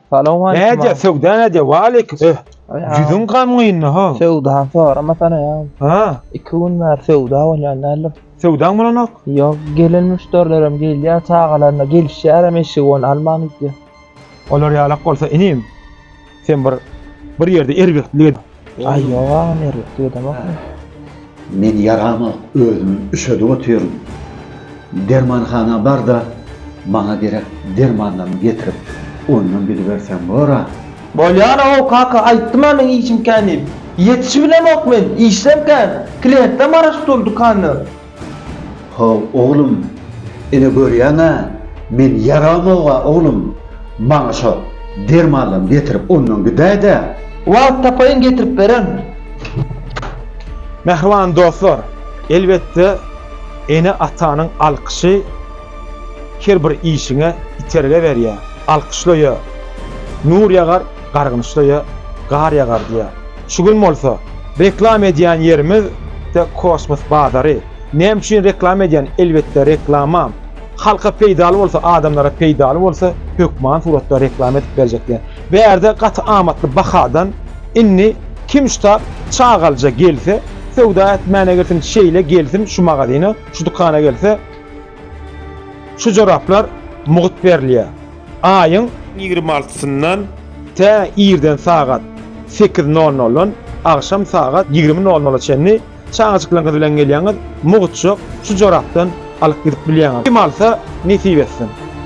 Salam aleyküm. Näde söwda näde? Wa aleyküm. Eh. Ýüzüň gamgynly ha. Söwda sorama sana ya. Ha. İki gün bäri söwda bolýan däldir. Söwdaň bolanok? Ýok, gelen müşderilerim gelýär çagalaryna gelişýärem eşigi onu alman gitýär. Olar ýalak bolsa inim. Sen bir bir ýerde erbetlik Aý ýok agam ýerlik diýdemokmy. Men ýarama özüm üşedip otyryn. Dermanhana barda maňa gerek dermanlarymy getirip ondan biliberseň bora. Bolýar-ow kaka aýtdym-a meň işim kän diýip. Ýetişibilemok men, işlem kän. Klientlem garaşyp dur dükandan. Haw, oglum, ine görýäň-ä, men ýaramog-a, oglum, maňa şo dermanlaryňy getirip, ondan gidäý-dä. Wagt tapaýyn, getirip bererin. Mähriban dostlar, elbetde, ene-atanyň alkyşy her bir işiňe itergi berýär. Alkyşlaýar, nur ýagar, gargynyşlaýar, gar ýagar diýýär. Şu gün bolsa reklama edýän ýerimiz The Kosmos bazary. Näme üçin reklama edýän? Elbetde reklamam halka peýdaly bolsa, adamlara peýdaly bolsa hökman suratda reklama edip berjek diýen. Bärde gaty amatly bahadan indi kim ştab çagalyja gelse, söwda etmäne girsin, şeýle gelsin şu magazina, şu dükana gelse, Şu joraplar mugt berilýär. Aýyň. Ýigrimi altysyndan. Tä irden sagat sekiz nol noldan agşam sagat ýigrimi nol nola çenli çagajyklaryňyz bilen gelýäňiz, mugtjyk şu jorapdan alyp gidip bilýäňiz. Kim alsa, nesip etsin.